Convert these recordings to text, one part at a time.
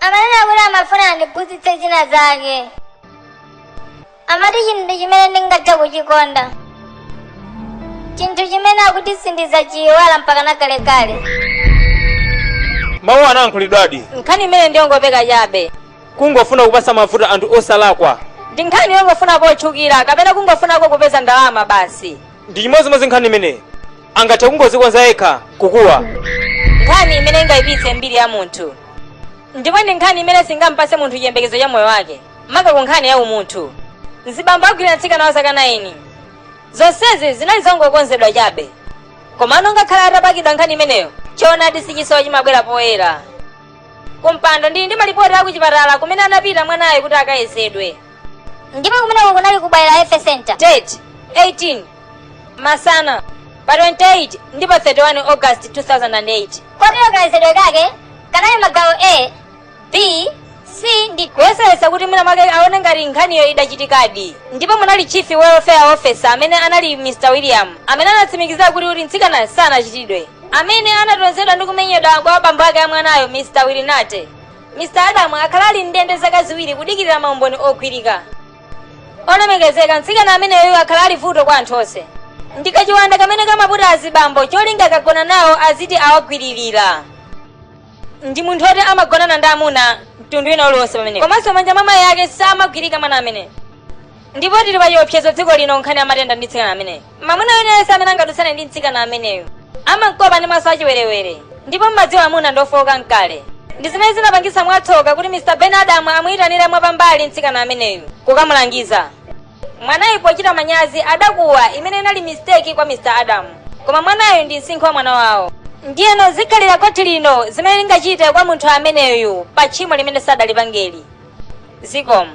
amanena kuti amafuna andiphunzitse zina zake amati chinthu chimene ndingathe kuchikonda chinthu chimene akuti sindizachiyiwala mpaka nakalekale mawu anayankhulidwadi nkhani imene ndiyongopeka chabe kungofuna kupasa mavuto anthu osalakwa ndi nkhani yongofuna potchukira kapena kungofunako kupeza ndalama basi ndi chimodzimodzi nkhani imeneyi angathe kungoyikonza yekha kukuwa nkhani imene ingayipitse mbiri ya munthu ndipo ndi nkhani imene singampatse munthu chiyembekezo cha moyo wake maka ku nkhani ya umunthu mzibambo agwira mtsikana wa zaka 9 zonsezi zinali zongokonzedwa chabe komano ngakhale atapakidwa nkhani imeneyo choonadi sichisowa chimabwera poyera kumpando ndili ndi malipoti akuchipatala kumene anapita mwanayo kuti akayezedwe ndipo kumeneko kunali ku bwaila health center date 28 masana pa 28 ndi pa 31 august 2008 kotero kayezedwe kake kanali magawo a b c ndi kuyesayesa kuti mwina mwake aone ngati nkhaniyo idachitikadi ndipo munali chief welfare officer amene anali mr william amene anatsimikizira kuti kuti mtsikana sanachitidwe amene anatozedwa ndi kumenyedwa kwa abambo ake a mwanayo mr wilinate Mr Adam akhala ali m'ndende zaka ziwiri kudikirira maumboni ogwirika. Olemekezeka, mtsikana ameneyu akhala ali vuto kwa anthu onse. Ndi kachiwanda kamene kamaputa azibambo cholinga akagona nawo aziti awagwiririra. Ndi munthu oti amagonana ndi amuna mtundu wina uliwonse pamene. Komanso manja mwa mayi ake samagwirika mwana amene. Ndipo tili pa chiopsezo dziko lino nkhani ya matenda ndi mtsikana amene. Mwamuna wina aliyense amene angadutsane ndi mtsikana ameneyu amamkopa ndi maso achiwerewere ndipo mmadziwa amuna ndi ofowoka mkale. Ndi zimene zinapangitsa mwatsoka kuti Mr. Ben Adam amuyitanira mwapambali mtsikana ameneyu kukamulangiza. Mwanayu pochita manyazi adakuwa imene inali mistake kwa Mr. Adam. Koma mwanayu ndi msinkhu wa mwana wawo. Ndiyeno zikhalira khoti lino zimene lingachite kwa munthu ameneyu pa tchimo limene sadalipangeli. Zikomo.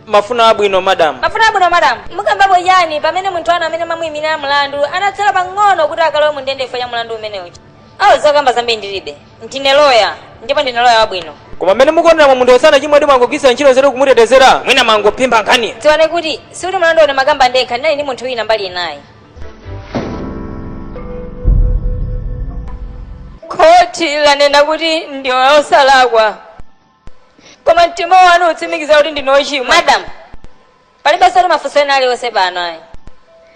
mafuna abwino madam mafuna abwino madam mukambapo chani pamene munthu wanu amene mwamuyimirira mlandu anatsala pang'ono kuti akalowe mundende chifukwa cha mlandu umenewu awo zokamba zambiri ndilibe ndine loya ndipo ndine loya wabwino koma mmene mukuoneramo munthuyo sanachimwe ayi mwangogwiritsa ntchito nzeru kumutetezera mwina mangophimba nkhani dziwani kuti sikuti mlandu uno ndimakamba ndekha ndinali ndi munthu wina mbali inayi khoti lanena kuti ndi osalakwa Koma mtima wanu utsimikiza kuti ndinu ochimwa. Madam, palibeso tu mafunso ena alionse pano ayi.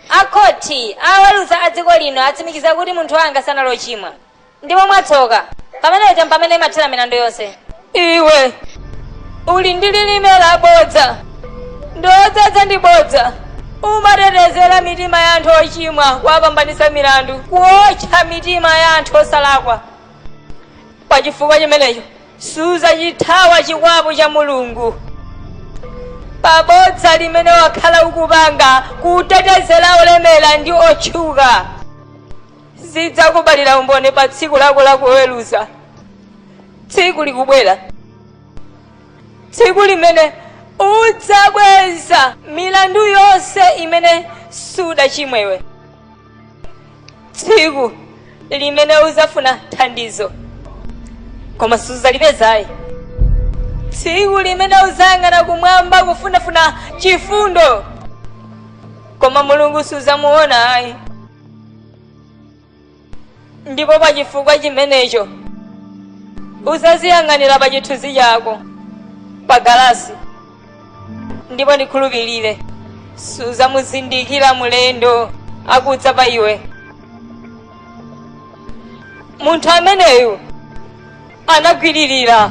A khoti, aweruza a dziko lino atsimikiza kuti munthu wanga sanali ochimwa. Ndipo mwatsoka, pamene paja mpamene imathera milandu yonse. Iwe uli ndi lilime la bodza ndiwe odzadza ndi bodza. Umatetezera mitima ya anthu ochimwa kuwapambanitsa milandu, kuotcha mitima ya anthu osalakwa. Pa chifukwa chimenecho, sudzachithawa chikwapu cha mulungu pabodza limene wakhala ukupanga kutetezera olemera ndi otchuka zidzakubalira umboni pa tsiku lako lakuweruza tsiku likubwera tsiku limene udzabweza milandu yonse imene sudachimwewe tsiku limene udzafuna thandizo koma suzalipeza ayi tsiku limene udzayang'ana kumwamba kufunafuna chifundo koma mulungu sudzamuona ayi ndipo pa chifukwa chimenecho uzaziyang'anira pa chithunzi chako pa galasi ndipo ndikhulupirire suzamuzindikira mulendo akudza pa iwe munthu ameneyu anagwiririra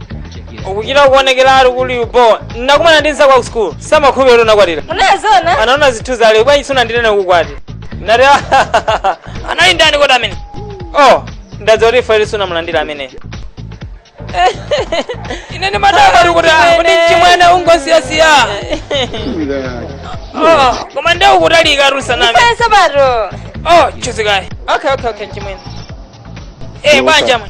ukuchita kuonekera ali kuli upo ndakumana ndi nzako ku school samakhupi ero nakwatira unazona anaona zinthu zale bwanji sunandinena kukwati ndati "Ah, anali ndani kodi amene oh ndadziwa kuti fayili sunamulandira amene ine ndi madaka likuti kuti mchimwene ungosiyasiya Oh, koma nde ukutalika rusanami faya sabato oh chuzikayi okay okay okay mchimwene eh bwanji amwe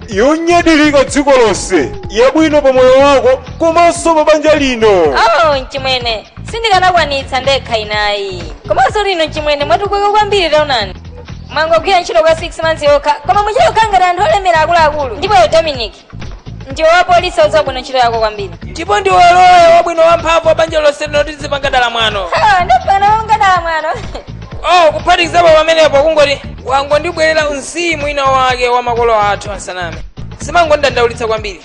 yonyadilika dziko lonse yabwino pa moyo wako komanso pa banja lino oh mchimwene sindikanakwanitsa ndekha ine ayi komanso lino mchimwene mwatukuka kwambiri taonani mwangogwira ntchito kwa 6 months yokha koma muchita kukhala ngati anthu olemera akuluakulu ndipo yo dominic ndi wapolisi odziwa bwino ntchito yako kwambiri ndipo ndiwe loya wabwino wamphamvu wa banja lonse lino tizipanga dala mwano Ha, ndapana ungadala mwano oh kuphatikizapo pamenepo kungoti wangondibwerera mzimu ina wake wa makolo athu asaname zimangondidandaulitsa kwambiri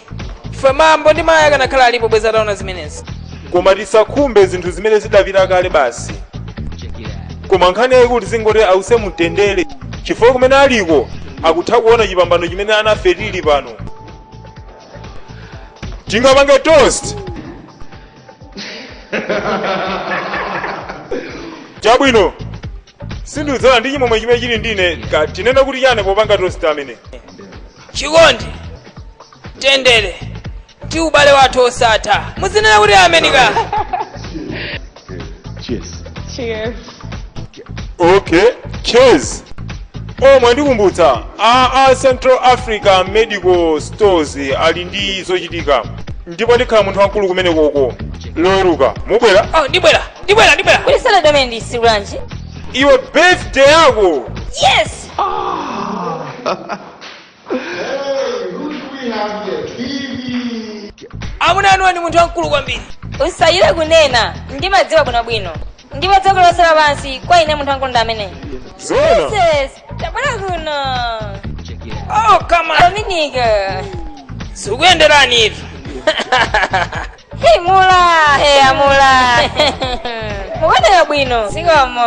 chifukwa bambo ndi mayi akanakhala alipo bweza ataona zimenezi koma tisakhumbe zinthu zimene zidapita kale basi koma nkhani yayikulu zingoti ause mumtendere chifukwa kumene aliko akutha kuona chipambano chimene anafe tili pano tingapange toast chabwino ndadzala ndi chimwemwe chimene chili ndine ndiye tinena kuti chani popanga toast amene chikondi mtendere ndi ubale wathu osatha muzinena kuti amenika Cheers. Cheers. okay cheers oh mwandikumbutsa a central africa medical stores ali ndi zochitika ndipo ndikhala munthu wamkulu kumene koko loweruka mubwera oh ndibwera ndibwera ndibwera kuli salad amene ndisi bwanji iwe birthday yako yes amuna anu ndi munthu wabwino kwambiri usayiwale kunena ndimadziwa bwinobwino ndipo dziko lonse lapansi kwa ine munthu wamkulu ndi amene jesus tabwera kuno oh kama dominika sikuyenderani ivi himula he amula mukuoneka bwino zikomo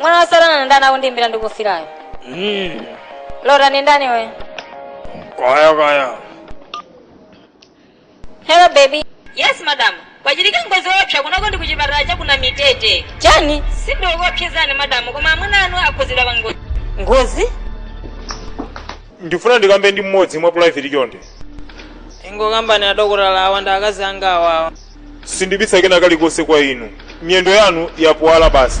mwana wa satana ndani akundimbira ndikufirayo Mm. lota ni ndani we Kaya kaya. Hello baby. Yes madam. Kwachitika ngozi yoopsa kunoko ndi kuchipatala cha ku Namitete. Chani? Sindikukuopsezani madam koma amuna anu akhudzidwa pa ngozi. Ngozi? ndifuna ndikambe ndi mmodzi mwa private chonde ingokambani adokotala awa ndi akazi anga awawa sindibisa kena kalikonse kwa inu miyendo yanu yapuwala basi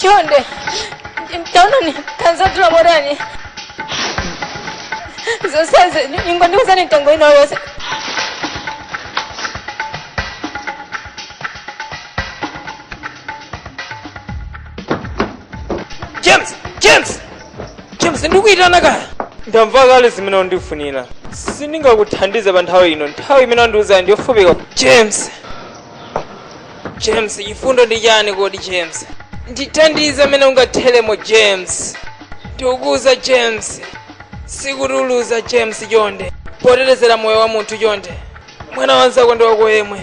chonde taonani tanzatula morani zonsezi ingondiuzani mtengo inu yose james james james ndikuitana kaya ndamva kale zimene undifunira sindingakuthandize pa nthawi ino nthawi imene undiuza ndiyofupika james James, chifundo ndi chani kodi James? Ndithandize mmene ungatheremo James. Ndikukuuza James. Sikuti uluza James chonde. Potetezera moyo wa munthu chonde. Mwana wanzako ndi wako yemwe.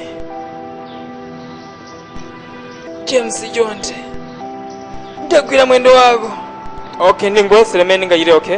James chonde. Ndagwira mwendo wako. Okay, ndingoyesera mmene ndingachite okay?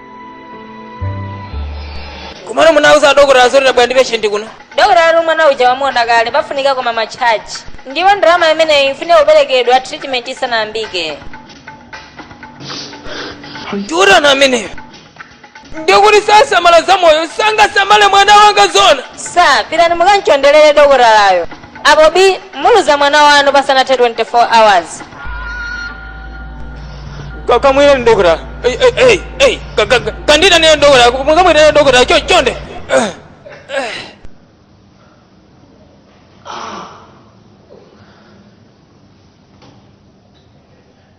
komano munauza adokotala zoti tabwera ndi peshenti kuno dokotala akuti mwana uja wamuona kale pafunika koma matchaji ndipo ndalama imeneyi ifunika kuperekedwa treatment isanayambike ndiutani ameneyo ndiye kuti sasamala za moyo sangasamale mwana wanga zoona pitani mukamchonderere dokotalayo Apo bi muluza mwana wanu pasanathe 24 hours. Ka- kamwireni dokota Ei, ei, ei, ei, ka- ka- ka- kandiitanireni dokota mukamwitanire dokota cho- chonde Eh, eh.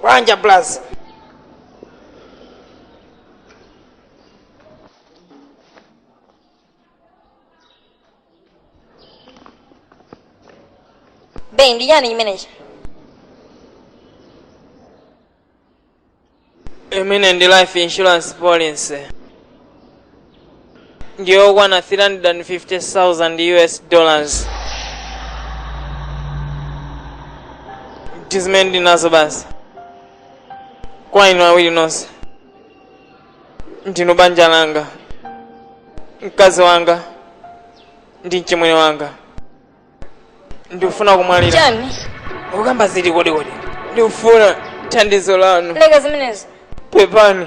bwanji abulazi beyi ndi chani chimenechi imene ndi life insurance policy ndiyokwana 350,000 us dollars ndi zimene ndili nazo basi kwa inu awiri nonse ndinu banja langa mkazi wanga ndi mchimwene wanga ndikufuna kumwalira chani ukamba ziti kodi kodi ndikufuna thandizo lanu leka zimenezo pepani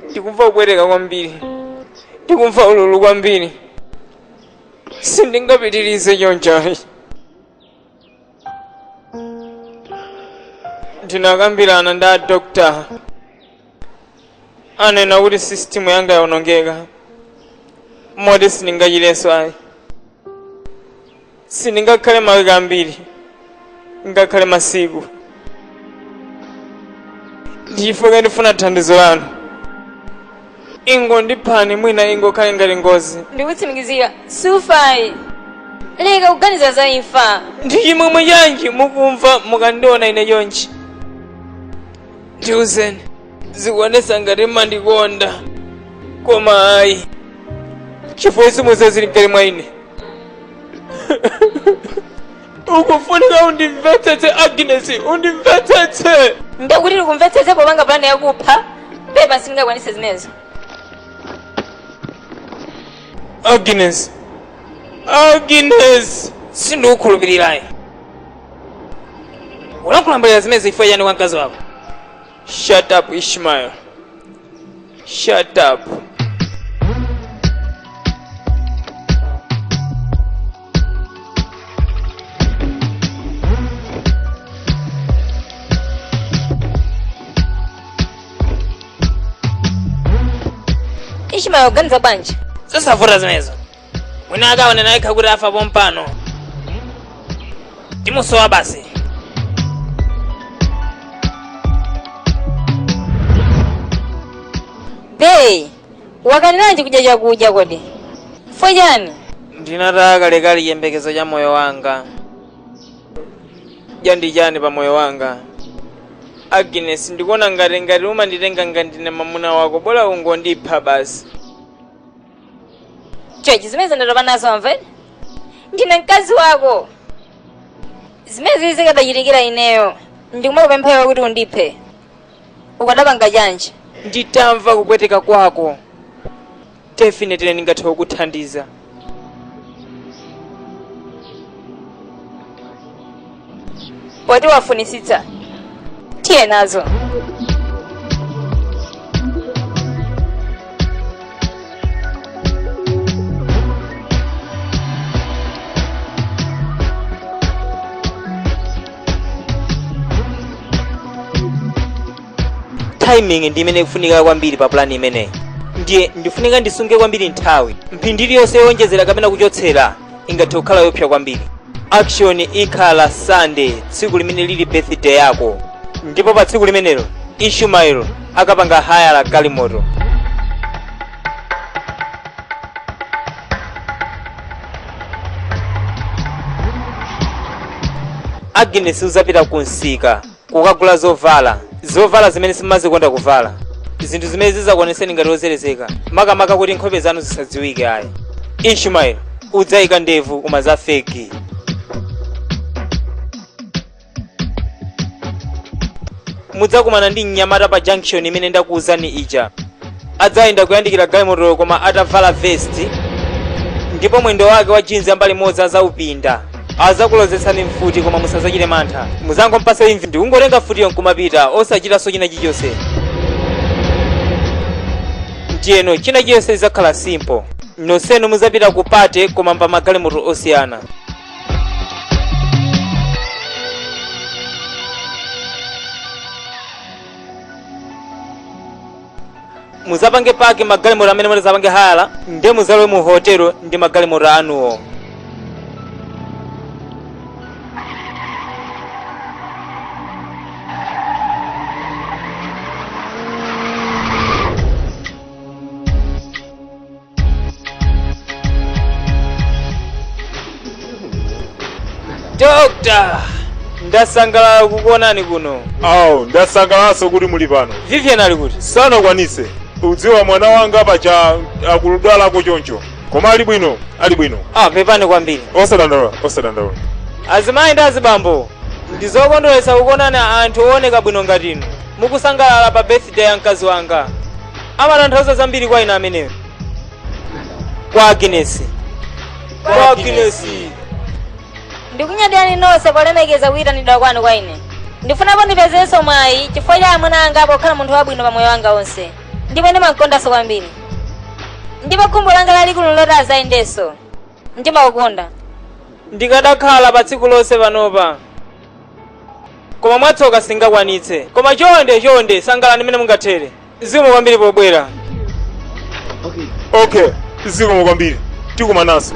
ndikumva kupweteka kwambiri ndikumva ululu kwambiri sindingapitirize chonchi ayi ndinakambirana ndi a dokotala anena kuti sisitimu yanga yawonongeka moti sindingachirenso ayi sindingakhale mawiki ambiri ngakhale masiku ndichifukwa ndifuna thandizo lanu ingondiphani mwina ingokhale ngati ngozi ndikutsimikizira sufai leka kuganiza za imfa ndi chimwemwe chanji mukumva mukandiona ine chonchi ndiuzeni zikuonetsa ngati mmandikonda koma ayi chifukwa simudziwa zili mkati mwa ine ukufunika undimvetsetse agnes undimvetsetse ndekuti ndikumvetsetse popanga pulani yakupha pepa sindingakwanise zimenezo agnes agnes sindikukhulupirira ayi ulankhula mbali zimenezo chifukwa chani kwa mkazi wako shut up ishmael shut up ishmael uganiza bwanji zosavuta zimenezo mwina akaone nayekha kuti afa pompano timusowa basi Hey, wakanilanji kudya chakudya kodi? Chifukwa chani? ndinataya kalekale chiyembekezo cha moyo wanga kudya ndi chani pa moyo wanga agnes ndikuona ngati ngati umanditenga ngati ndine mamuna wako bola ungondipha basi chonchi zimenezi ndatopa nazo amve ndine mkazi wako zimenezi zikadachitikira ineyo ndikumakupempha iwe kuti undiphe ukadapanga chanji nditamva kupweteka kwako definitely ndingathe kukuthandiza poti wafunisitsa tiye nazo timing ndi imene ikufunika kwambiri pa plan imeneyi ndiye ndikufunika ndisunge kwambiri nthawi mphindi iliyonse yowonjezera kapena kuchotsera ingathe kukhala yopsa kwambiri action ikhala sunday tsiku limene lili birthday yako ndipo pa tsiku limenelo ishumaelo akapanga hayala galimoto agnes uzapita ku msika Kukagula zovala. Zovala zimene simumazikonda kuvala. Zinthu zimene zidzakuonetseni ngati wozerezeka, makamaka kuti nkhope zanu zisadziwike ayi. Ishmael, udzaika ndevu koma za fegi. Mudzakumana ndi mnyamata pa junction imene ndakuuzani ija. adzayenda kuyandikira galimotoyo koma atavala vesti ndipo mwendo wake wa jinzi mbali imodzi azaupinda azakulozetsani mfuti koma musazachite mantha muzangompasa envi ndikungotenga mfutiyo nkumapita osachitanso china chilichonse ndiyeno china chilichonse chizakhala simple nonsenu muzapita ku pate koma m'magalimoto osiyana muzapange paki magalimoto amene mutizapange hayala nde muzalowe mu hotelo ndi magalimoto anuwo Doctor, ndasangalala kukuonani kuno. awo ndasangalanso kuti muli pano Vivian ali kuti? sanakwanise mudziwa mwana wanga pacha akudwalako choncho koma ali bwino ali bwino Ah, pepani kwambiri. osadandaula osadandaula Azimayi ndi azibambo, ndi zokondweretsa kukuonani anthu ooneka bwino ngati inu. mukusangalala pa birthday ya mkazi wanga. amatanthauza zambiri kwa ine ameneyo kwa aginesi kwa aginesi ndikunyadirani nonse polemekeza kuyitanidwa kwanu kwa ine ndifuna pano ndipezenso mwayi chifukwa cha amuna anga pokhala munthu wabwino pa moyo wanga wonse ndipo ndimawakondanso kwambiri ndipo khumbo langa lalikulu nloti azayendenso ndimakukonda ndikanakhala pa tsiku lonse panopa koma mwatsoka sindingakwanitse koma chonde chonde sangalani mmene mungathere zikomo kwambiri pobwera okay zikomo kwambiri tikumananso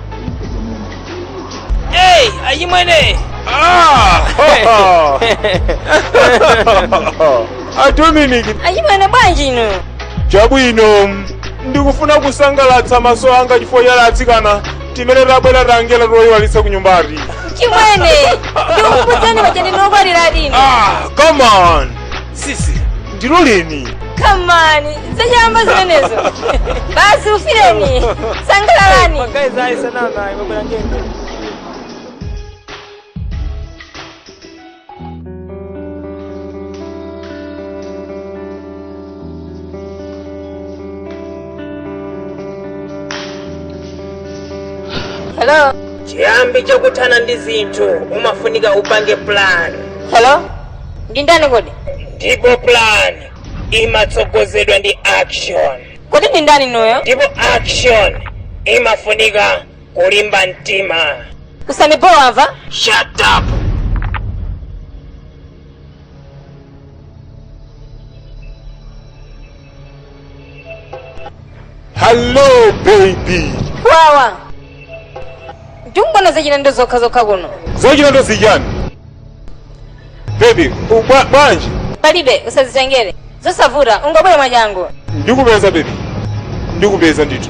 Hey, achimwene! Ah! a Dominic Achimwene bwanji inu? chabwino ndikufuna kusangalatsa maso anga chifukwa cha atsikana timene tabwera tangenena toyiwalitsa ku nyumbati Chimwene! Ndikukudzani paja ndinu okwatira inu. ah come on sisi ndiloleni kamani zachamba zimenezo basi ufireni sangalalani guys ayisanana imabwera ngendo hello chiyambi chokuthana ndi zinthu umafunika upange plan hello ndi ndani kodi ndipo plan imatsogozedwa ndi action kodi ndi ndani inuyo ndipo action imafunika kulimba mtima usanibowa amva shut up Hello, baby. wawa ndikungona zochita ndi zokha zokha kuno Zochita ndi zichani. Baby, ubwa- bwanji? palibe usazitengere zosavuta ungabwere mwachangu Ndikupeza baby. Ndikupeza ndithu.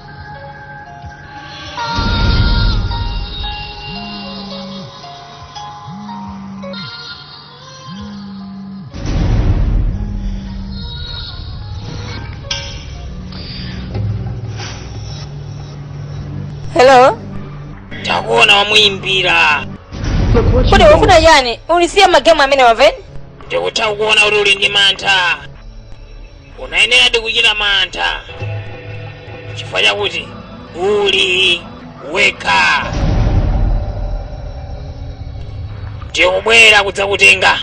Hello? Takuona wamuyimbira. Kodi ukufuna chani? Unisiye magemu amenewa Veni? Ndikutha kukuona kuti uli ndi mantha. unayeneradi kuchita mantha chifukwa chakuti uli wekha ndikubwera kudzakutenga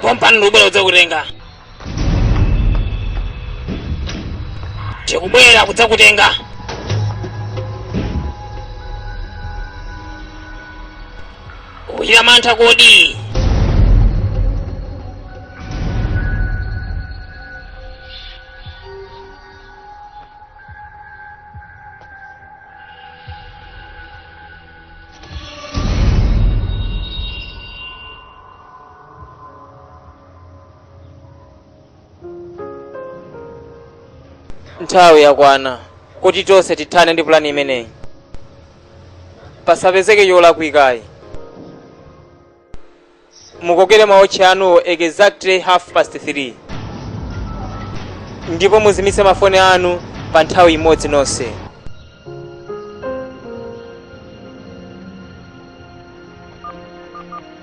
pompano ndikubwera kudzakutenga ndikubwera kudzakutenga Ukuchita mantha kodi? nthawi yakwana kuti tonse tithane ndi pulani imeneyi pasapezeke cholakwika ayi mukokere maotchi anuwo exactly half past 3 ndipo muzimitse mafoni anu pa nthawi imodzi nonse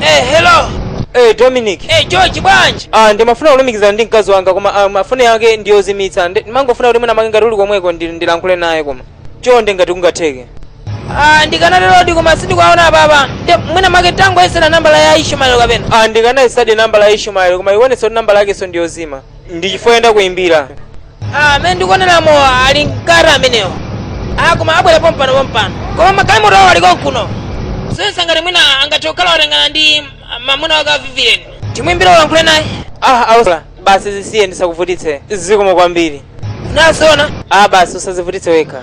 Eh, hello. Eh, Dominic. Eh, George bwanji? Ah, ndimafuna kulumikizana ndi mkazi wanga koma ah, mafoni yake ndi yozimitsa. Ndi- Ndimangofuna kuti mwina mwake ngati ali komweko ndi- ndilankhule naye koma. Chonde ngati kungatheke. Ah, ndikanaterodi koma sindikuwaona baba. Nde mwina mwake tangoyesera nambala ya Ishmael kapena. Ah, ndikanayesadi nambala ya Ishmael koma ikuwonetsa kuti nambala yakenso ndi yozima. Ndi chifukwa chake ndakuimbira. Ah, amene ndikuonera mmo ali mkati amenewo ah, koma abwera pompano pompano koma magalimoto awo aliko kuno so kaya ngati mwina angathe kukhala watengana ndi mamuna wake wa Vivien timwimbire ulankhule naye ah osowa basi zisiye ndisakuvutitse zikomo kwambiri nasona ah basi usazivutitse wekha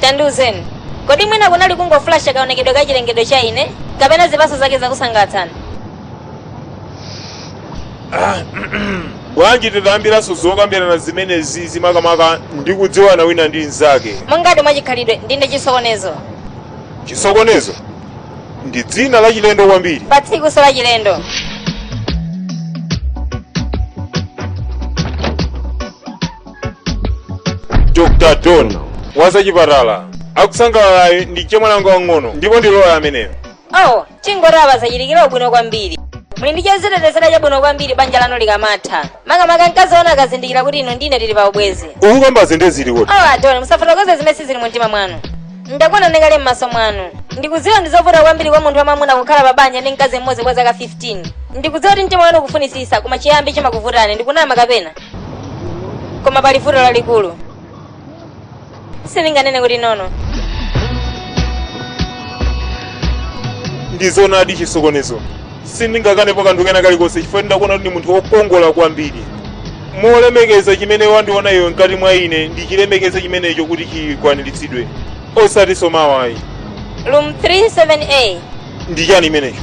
tandiuzeni kodi mwina kunali kungoflasha kaonekedwe ka chilengedwe cha ine kapena zipatso zake zakusangalatsani bwanji titayambiranso zokambirana zimenezizi makamaka ndi kudziwana wina ndi mnzake monga mwa chikhalidwe ndine chisokonezo chisokonezo ndi dzina la chilendo kwambiri pa tsikunso la chilendo dr don wazachipatala akusangalalayo ndi chemwali anga aang'ono ndipo ndi loya ameneyo oh tingoti apa zachitikira ubwino kwambiri muli ndi chozitetezera chabwino kwambiri banja lanu likamatha makamaka mkazi wanu akazindikira kuti inu ndi ine tili pa ubwezi ukukamba zimene zili kuti oh a don musafotokoze zimene sizili mu mtima mwanu ndakuona ndi kale m'maso mwanu ndikudziwa ndi zovuta kwambiri kwa munthu wamwamuna kukhala pa banja ndi mkazi mmodzi kwa zaka 15 ndikudziwa kuti mtima wanu ukufunitsitsa koma chiyambi chimakuvutani ndikunama kapena koma pali vuto lalikulu sindinganene kuti nono ndizonadi chisokonezo sindingakanepo kanthu kena kalikonse chifukwa ndakuona kuti ndiwe munthu wokongola kwambiri polemekeza chimene wandiona iwe mkati mwa ine ndichilemekeze chimenecho kuti chikwaniritsidwe osatinso mawa ayi room 37a ndi chani chimenecho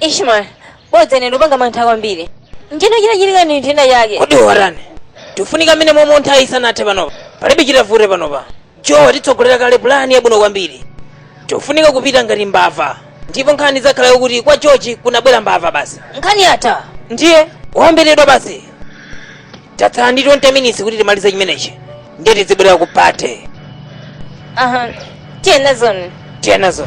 ishmael bodza ine ndikupanga mantha kwambiri nje china chitachitika ndi nthenda yake kodi warani tifunika mmenemo momwe nthawi isanathe panopa palibe chitavute panopa joe watitsogolera kale pulani yabwino kwambiri tifunika kupita ngati mbava ndipo nkhani idzakhala yokuti kwa george kunabwera mbava basi nkhani yatha ndiye wamberedwa basi Tatsala ndi 20 minutes kuti timalize chimenechi. Ndiye tizibwerera ku party. Aha. Tiye nazoni. Tiyeni nazo.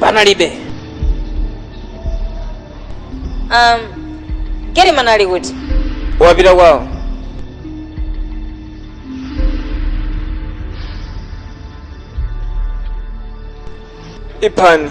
panalibe um, Geriman ali kuti wapita kwawo iphani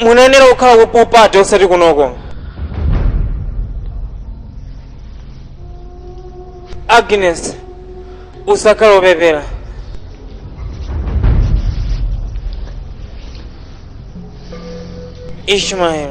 munayenera kukhala ku pool party osati kunoko agnes usakhale wopepera ishmael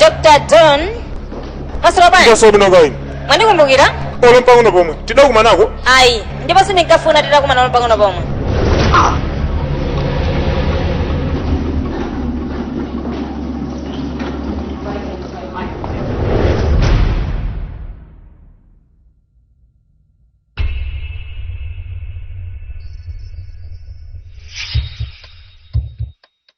dr don maswera bwanji Taswera bwino kaya inu. mwandikumbukira Olo mpang'ono pomwe. Tidakumanako. ayi ndipo sindinkafuna titakumana olo pang'ono pomwe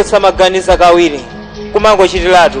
osamaganiza kawiri kumangochitiratu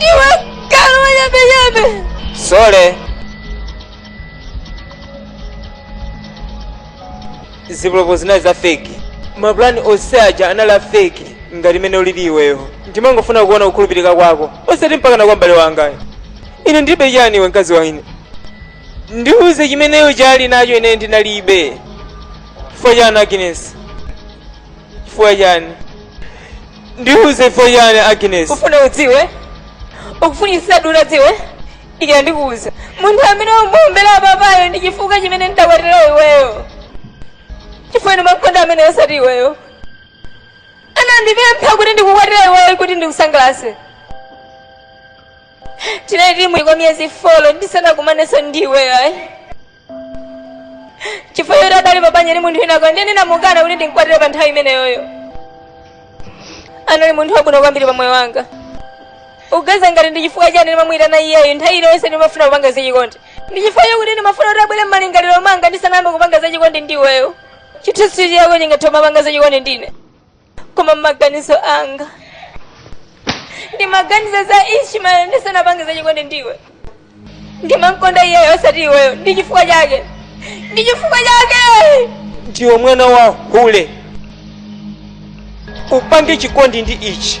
Iwe kanu wanyambenyambe. Sorry. Zipolopo zinali za fake. Mapulani onse aja anali a fake ngati mene ulili iweyo. Ndimangofuna kuona kukhulupirika kwako. Osati mpaka na kwa m'bale wangayo. Ine ndilibe chani iwe mkazi wa ine. Ndiuze chimene iye ali nacho ine ndinalibe. Chifukwa chani Agnes? Chifukwa chani? Ndiuze chifukwa chiyani Agnes? Ufuna udziwe? Ukufunitsitsa utadziwa? OK ndikuuza. Munthu amene umuombera papayo ndi chifukwa chimene ndidakwatira iweyo. Chifukwa ndimamukonda ameneyo osati iweyo. Anandipempha kuti ndikukwatire iweyo kuti ndikusangalatse. Tinali tili muubwenzi kwa miyezi 4 ndisanakumanenso ndi iweyo ayi. chifukwa choti adali pabanja ndi munthu winako ndiye ndinamukana kuti ndimkwatire pa nthawi imeneyoyo anali munthu wabwino kwambiri pa moyo wanga ukuganiza ngati ndi chifukwa chani ndimamuyitana iyeyo nthawi iliyonse ndimafuna kupanga zachikondi ndi chifukwa chakuti ndimafuna kuti abwere m'malingaliro mwanga ndisanayambe kupanga zachikondi ndi iweyo chithunzi chako chingathe kumapanga zachikondi ndine koma m'maganizo anga ndimaganiza za isha ndisanapange za chikondi ndiwe ndimamkonda iyeyo osati iweyo ndi chifukwa chake ndi chifukwa chake ndiwe mwana wa hule upange chikondi ndi ichi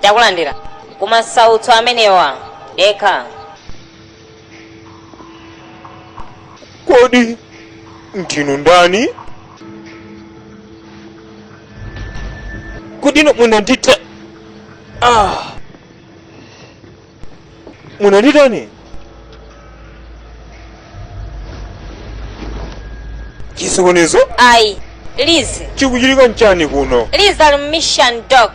takulandirani kumasautso amenewa dekha kodi ndinu ndani kodi nomwe nandita ah. Muno nditani? Chisokonezo Ayi. Liz. chikuchitika nchani kuno? Liz ali mu mission dock.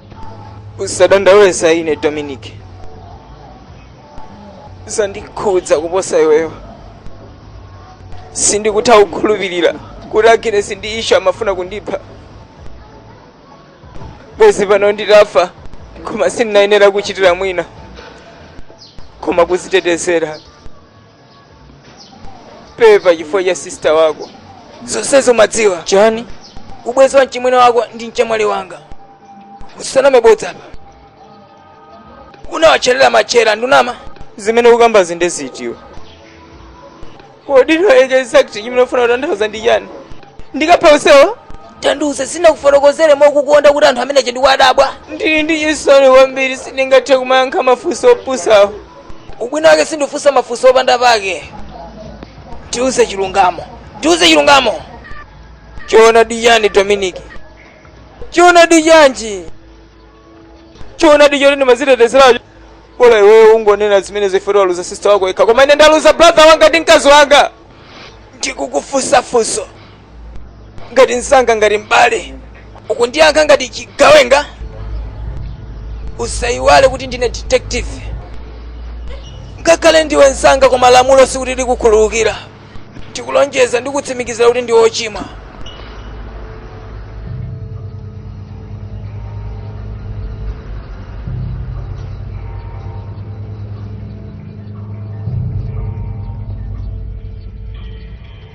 usadandaule za ine dominic zandikhudza kuposa iweyo sindikutha kukhulupirira kuti aginesi ndi isha amafuna kundipha bwezi pano nditafa koma sindinayenere kuchitira mwina koma kuzitetezera pepa chifukwa cha sista wako zonsezo umadziwa chani ubwezi wa mchimwene wako ndi mchemwali wanga usaname mabodza apa unawatcherera matchera ndiwe unama zimene ukukambazi nde ziti iwe kodi where exactly chimene ufuna kutanthauza ndi chani ndikapha onsewo tandiuze sinakufotokozere mokukonda kuti anthu amenewa ndikuwadabwa ndili ndi chisoni kwambiri sindingathe kumayankha mafunso opusawo ubwino wake sindifunsa mafunso opanda pake tiuze chilungamo tiuze chilungamo choonadi chani dominic choonadi chanji choonadi choti ndimazitetezeracho bola iwewe ukungonena zimenezo chifukwa choti waluza sista wako yekha koma ine ndaluza brother wanga ndi mkazi wanga ndikukufunsa funso ngati mzanga ngati m'bale ukundiyankha ngati chigawenga usayiwale kuti ndine detective ngakhale ndiwe mzanga koma lamulo sikuti likukhululukira ndikulonjeza ndi kutsimikizira kuti ndiwe ochimwa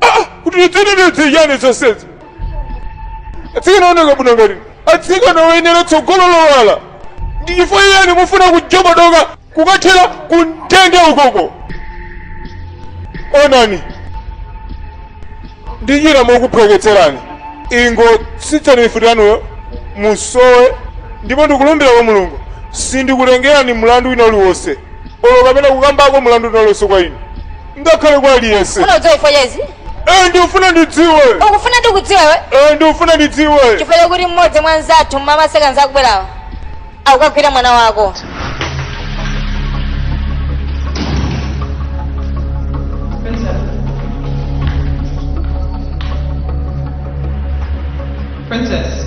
Ah, kuti lidzitetedze chani zonsezi atsikana ooneka bwino ngati atsikana oyenera tsogolo lowala ndi chifukwa chiyani mufuna kujobodoka kukathera kumtunda ukoko onani ndichita mokuphweketserani ingotsitsani mifuti yanuyo muzisowa ndipo ndikulumbira kwa mulungu sindikunenerani mlandu wina uliwonse olo kumene kukambako mlandu wina uliwonse kwa inu ngakhale kwa aliyense Funa udziwe chifukwa cha izi. Eh, ndikufuna ndidziwe Ukufuna ndikudziwe. Eh, ndikufuna ndidziwe Chifukwa chakuti mmodzi mwa anzathu mmama akubwerawa. Akagwira mwana wako. Princess.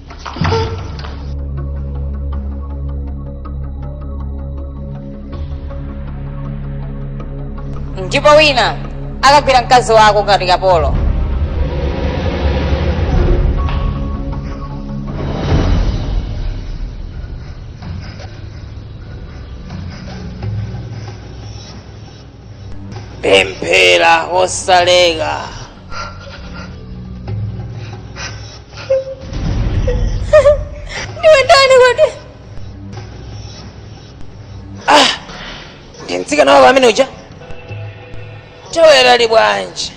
ndipo wina akagwira mkazi wako ngati kapolo pemphera kosaleka ndiwe ndani kodi ndi mtsikana wako amene uja tawerali bwanji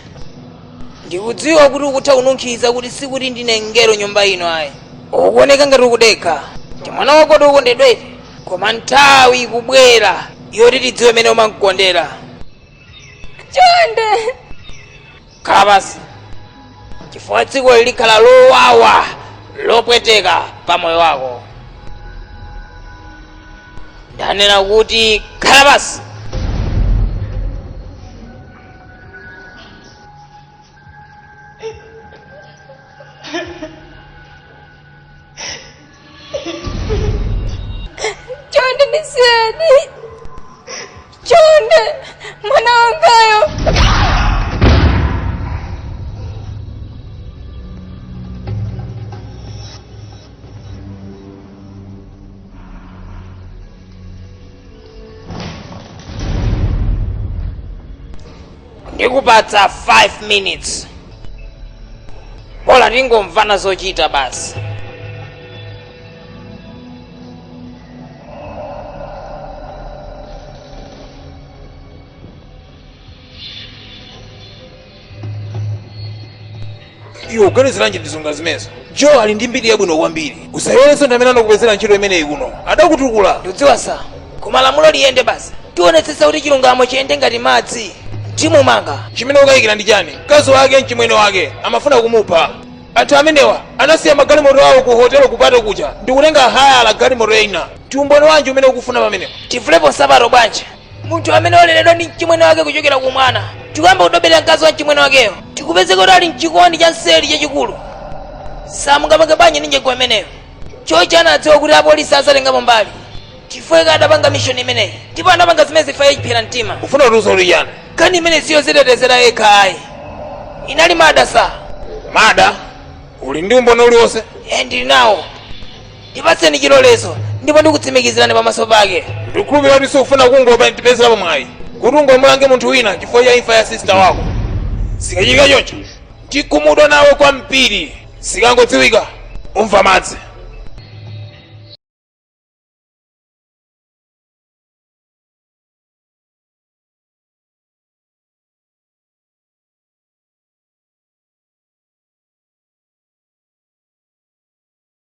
ndikudziwa kuti ukutha kununkhiza kuti sikuti ndine mngelo mnyumba ino ayi ukuoneka ngati ukudekha ndi mwana wako wokondedwa eti koma nthawi ikubwera yoti tidziwe mene umamkondera chonde khala pansi chifukwa tsiku ili likhala lowawa lopweteka pa moyo wako ndanena kuti khala pansi chonde ndisiyeni chonde mwana wangayo ndikupatsa 5 minutes bola tingomvana zochita basi iwe uganiziranji zinthu ngati zimenezo joe ali ndi mbiri yabwino kwambiri usayiwerenso ndi amene anakupezera ntchito imeneyi kuno adakutukula tikudziwa sir koma lamulo liyende basi tionetsetsa kuti chilungamo chiyende ngati madzi timumange chimene ukayikira ndi chani mkazi wake mchimwene wake amafuna kumupha anthu amenewa anasiya magalimoto awo ku hotelo kupita kunja ndikutenga hayala galimoto ina tiumboni wanji umene ukufuna pamenepo tivulepo nsapato bwanji munthu amene waleredwa ndi mchimwene wake kuchokera ku mwana ndikuyamba kudoberera mkazi wa mchimwene wakeyo ndikupezeka kuti ali mchikondi cha nseri chachikulu samungapange bwanji ndi njira imeneyo choncho anadziwa kuti apolisi azatengapo mbali chifukwa chake adapanga mishoni imeneyi ndipo anapanga zimenezi mwachiphera mtima ufuna kutiuza kuti chani nkhani imeneyi siyozitetezera yekha ayi inali murder sir murder uli ndi umboni uliwonse e ndili nawo ndipatseni chilolezo ndipo ndikutsimikizirani pamaso pake ndikukhulupirira kuti sukufuna kungopezerapo mwayi kuti ungomulange munthu wina chifukwa cha imfa ya sister wako zikachitika choncho tikhumudwa nawe kwambiri zikangodziwika umva madzi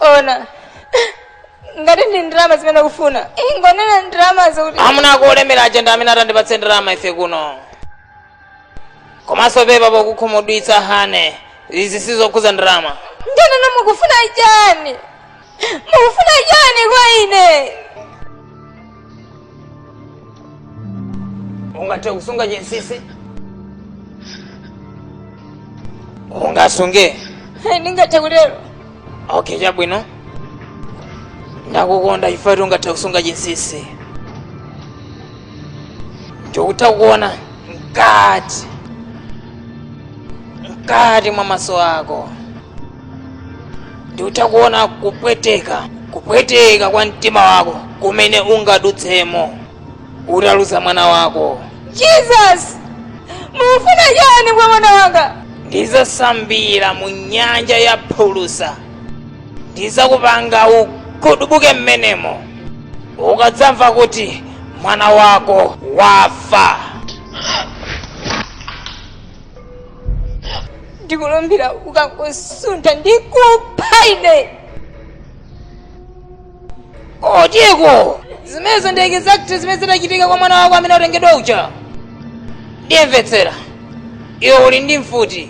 ona ngati ndi ndalama zimene ukufuna ingonena ndalama zoti amuna ako olemerawa ndi amene atandipatse ndalama ife kuno komanso pepa pokukhumudwitsa honey izi sizokhuza ndalama ndanena mukufuna chani mukufuna chani kwa ine ungathe kusunga chinsisi ungasunge ndingathe kutero okay chabwino ndakukonda chifukwa choti ungathe kusunga chinsisi ndikutha kuona mkati mwa maso ako ndikutha kuona kupweteka kwa mtima wako kumene ungadutsemo utaluza mwana wako jesus mukufuna chani kwa mwana wanga ndizasambira mu nyanja ya phulusa ndizakupanga ugudubuke mmenemo ukadzamva kuti mwana wako wafa ndikulumbira ukangosuntha ndikupha ine okay zimenezo ndi exact zimene zinachitika kwa mwana wako amene atengedwa uja ndiye mvetsera iwe uli ndi mfuti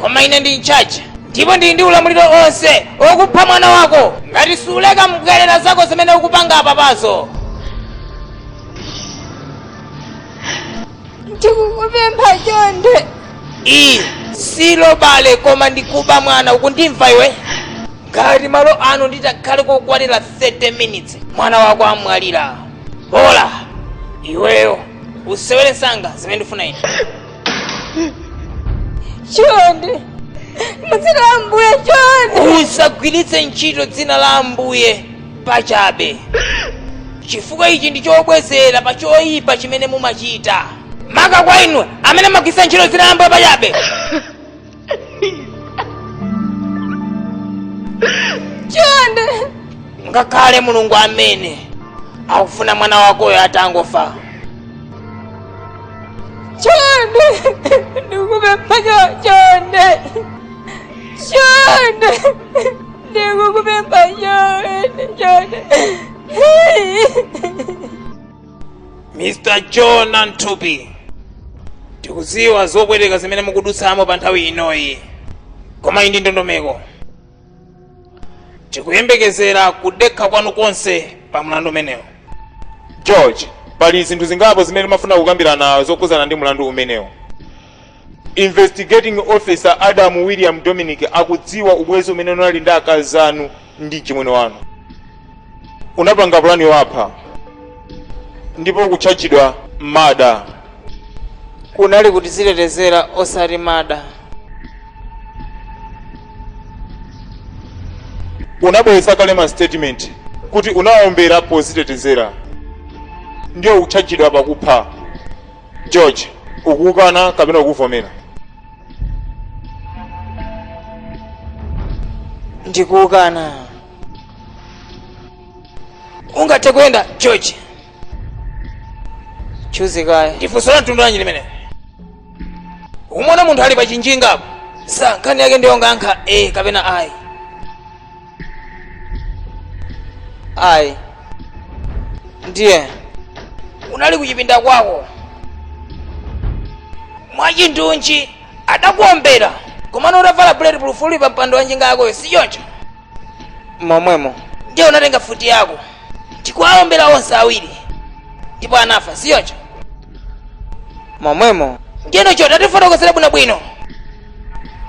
koma ine ndi mchacha ndipo ndili ndi ulamuliro onse wokupha mwana wako ngati suleka mbwerera zako zimene ukupanga apapazo ndikukupempha chonde iyi si robbery koma ndikuba mwana ukundimva iwe ngati malo ano nditakhale kokwanira 30 minutes mwana wako amwalira bola iweyo usewere msanga zimene ndifuna ine chonde mudzina la ambuye chonde usagwiritse ntchito dzina la ambuye pachabe chifukwa ichi ndi chobwezera pa choyipa chimene mumachita maka kwa inu amene mumagwiritsa ntchito dzina la ambuye pachabe chonde ngakhale mulungu amene akufuna mwana wakoyo atangofa chonde ndikupempha chonde chonde mr john antwi tikudziwa zopweteka zimene mukudutsamo pa nthawi inoyi koma iyi ndi ndondomeko tikuyembekezera kudekha kwanu konse pa mlandu umenewu george pali zinthu zingapo zimene timafuna kukambirana zokhudzana ndi mlandu umenewu investigating officer adam william dominic akudziwa ubwenzi umene unali ndi akazi anu ndi mchimwene wanu unapanga pulani yowapha ndipo ukutchajidwa murder kunali kudzitetezera osati murder unabweretsa kale ma statement kuti unaombera podzitetezera ndiye ukutchajidwa pakupha George, ukukana kapena ukuvomera? ndikukana ungathe kuyenda george juzi kaya ndi funso la mtundu wanji limene umona munthu ali pa chinjingapo sir nkhani yake ndiyongoyankha ee kapena ayi ayi ndiye unali kuchipinda kwako mwachindunji adakuombera komano utavala bulletproof uli pa mpando wa njinga yakoyo si choncho momwemo ndiye unatenga futi yako ndikuwaombera onse awiri ndipo anafa si choncho momwemo ndiye ndichoti atifotokozere bwinobwino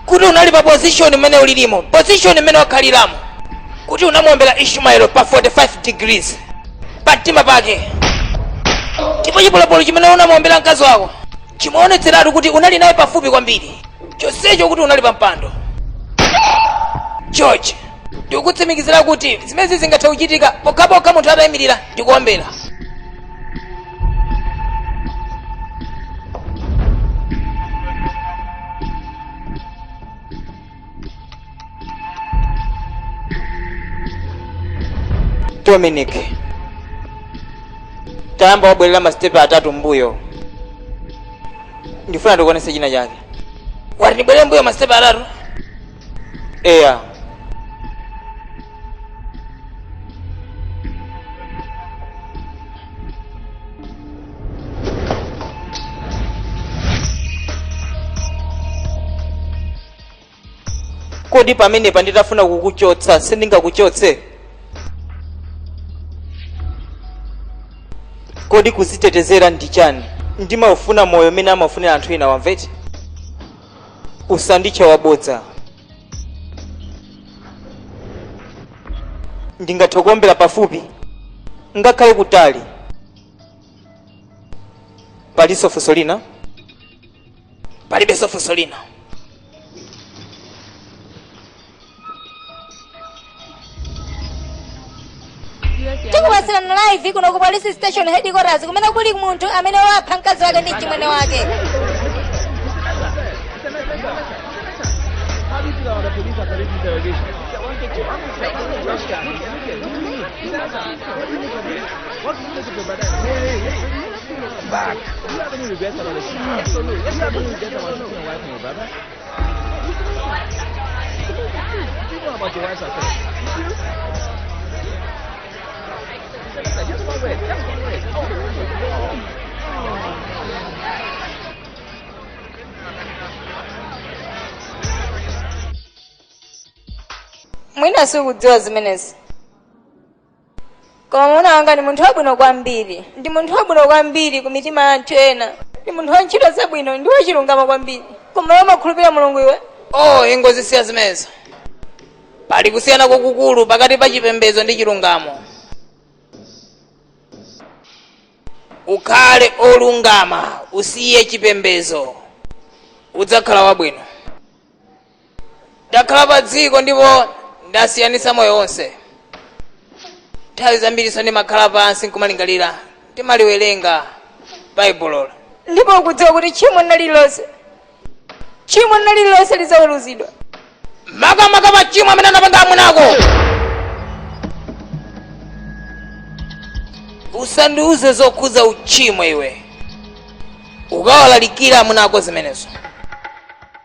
kuti unali pa position mmene ulilimo position mmene wakhaliramo kuti unamuombera ishmael pa 45 degrees pa mtima pake ndipo chipolopolo chimene unamuombera mkazi wako chimaonetseratu kuti unali naye pafupi kwambiri chonsecho ukuti unali pa mpando george ndikukutsimikizira kuti zimenezi zingathe kuchitika pokhapokha munthu atayimirira ndikuombera dominic tayamba wabwerera masitepe atatu mbuyo ndifuna ndikuonese china chake wati ndibwerere mbuyo masitepe atatu eya kodi pamenepa nditafuna kukuchotsa sindingakuchotse kodi kuzitetezera ndi chani ndimaufuna moyo umene amaufunira anthu ena wamvete usanditche wabodza ndingathe kuombera pafupi ngakhale kutali palinso funso lina palibenso funso lina tikupatsirani live kuno ku police station headquarters kumene kuli munthu amene wapha mkazi wake ndi mchimwene wake mwina sikudziwa zimenezi koma mwamuna wanga ndi munthu wabwino kwambiri ndi munthu wabwino kwambiri ku mitima ya anthu ena ndi munthu wa ntchito zabwino ndi wachilungamo kwambiri koma iwe umakhulupilira mulungu iwe oh ingozisiya zimenezo pali kusiyana kwakukulu pakati pa chipembedzo ndi chilungamo ukhale olungama usiye chipembedzo udzakhala wabwino ndakhala pa dziko ndipo ndasiyanitsa moyo wonse nthawi zambiriso ndimakhala pansi nkumalingalira ndimaliwerenga baibulo ndipo ukudziwa kuti tchimo lina lililonse tchimo lina lililonse lizaweruzidwa makamaka machimo amene anapanga amuna ako usandiuze zokhudza uchimo iwe ukawalalikira amuna ako zimenezo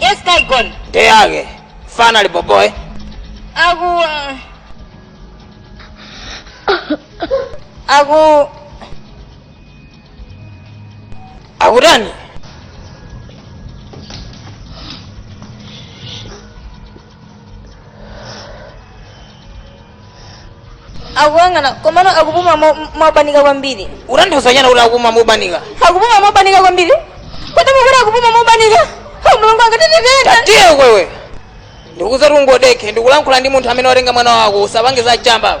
Yes, guy gone. Day yake. Fana ali boboy. Aku. Aku. Akutani? akuyang'ana komano akupuma mo- mobanika kwambiri utanthauza chani kuti akupuma mobanika akupuma mobanika kwambiri kodi mukuti akupuma mobanika o mulungu angatititenda tatiyeko iwe ndikuti tangodekha ndikulankhula ndi munthu amene watenga mwana wako usapange za chamba